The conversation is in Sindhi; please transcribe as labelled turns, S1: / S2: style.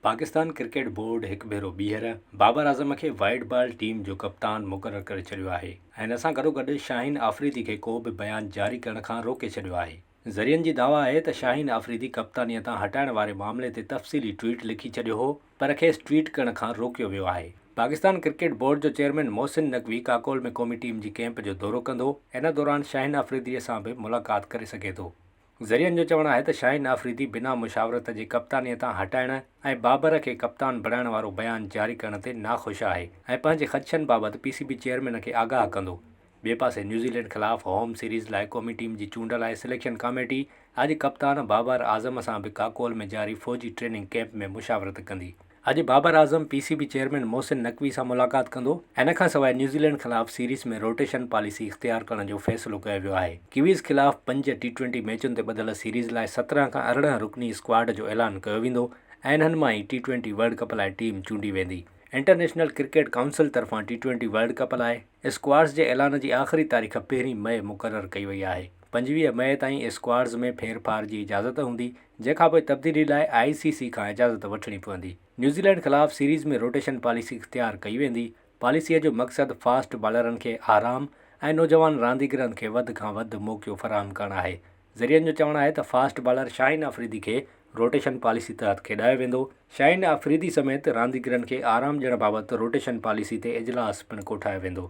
S1: پاڪستان ڪرڪيٽ بورڊ هڪ ڀيرو ٻيهر بابر اعظم کي وائيٽ بال ٽيم جو ڪپتان مقرر ڪري ڇڏيو آهي ۽ ان سان گڏوگڏ شاهين آفريدي کي ڪو به بيان جاري ڪرڻ کان روڪي ڇڏيو آهي. ذريعن جي دعويٰ آهي ته شاهين آفريدي ڪپتانيء تان هٽائڻ واري معاملي تي تفصيلي ٽوئيٽ لکي ڇڏيو هو پر کيس ٽوئيٽ ڪرڻ کان روڪيو ويو آهي. پاڪستان ڪرڪيٽ بورڊ جو چيئرمين محسن نقوي ڪاڪول ۾ قومي ٽيم جي ڪيمپ جو دورو ڪندو، ان دوران شاهين آفريديء سان به ملاقات ڪري سگهي ٿو. ذريعن جو چوڻ آهي ته شاهين آفريدي بنا مشاورت جي ڪپتانيء تان هٽائڻ ۽ بابر کي ڪپتان بڻائڻ وارو بيان جاري ڪرڻ تي ناخوش آهي ۽ پنهنجي خدشن بابت پي سي بي چيئرمين کي آگاهه ڪندو. ٻئي پاسي نيوزيلينڊ خلاف هوم سيريز لاء قومي ٽيم جي چونڊ لاء سليڪشن ڪاميٽي اڄ ڪپتان بابر اعظم سان به ڪاڪول ۾ جاري فوجي ٽريننگ ڪيمپ ۾ مشاورت ڪندي. اڄ Babar Azam P C B chairman Mohsin Naqvi سان ملاقات ڪندو، ان کان سواء نيوزيلينڊ خلاف سيريز ۾ روٽيشن پاليسي اختيار ڪرڻ جو فيصلو ڪيو ويو آهي، ڪيويز خلاف پنج ٽي ٽوئنٽي ميچن تي ٻڌل سيريز لاء سترهن کان ارڙهن رڪني اسڪواڊ جو اعلان ڪيو ويندو ۽ انهن مان ئي ٽي ٽوئنٽي ورلڊ ڪپ لاء ٽيم چونڊي ويندي، انٽرنيشنل ڪرڪيٽ ڪائونسل طرفان ٽي ٽوئنٽي ورلڊ ڪپ لاء. اسڪواڊز جي اعلان جي آخري تاريخ پهرين مئي مقرر ڪئي وئي آهي، پنجويهه مئي تائين اسڪواڊز ۾ ڦيرڦار جي اجازت هوندي، جنهن کانپوء تبديلي لاء آء سي سي کان اجازت وٺڻي پوندي. نيوزيلينڊ خلاف سيريز ۾ روٽيشن پاليسي اختيار ڪئي ويندي، پاليسيء جو مقصد فاسٽ بالرن کي آرام ۽ نوجوان رانديگرن کي وڌ کان وڌ موقعو فراهم ڪرڻ آهي، ذريعن جو چوڻ آهي ته فاسٽ بالر شاهين آفريدي کي روٽيشن پاليسي تحت کيڏايو ويندو، شاهين آفريدي سميت رانديگرن کي آرام ڏيڻ بابت روٽيشن پاليسي تي اجلاس پڻ ڪوٺايو ويندو.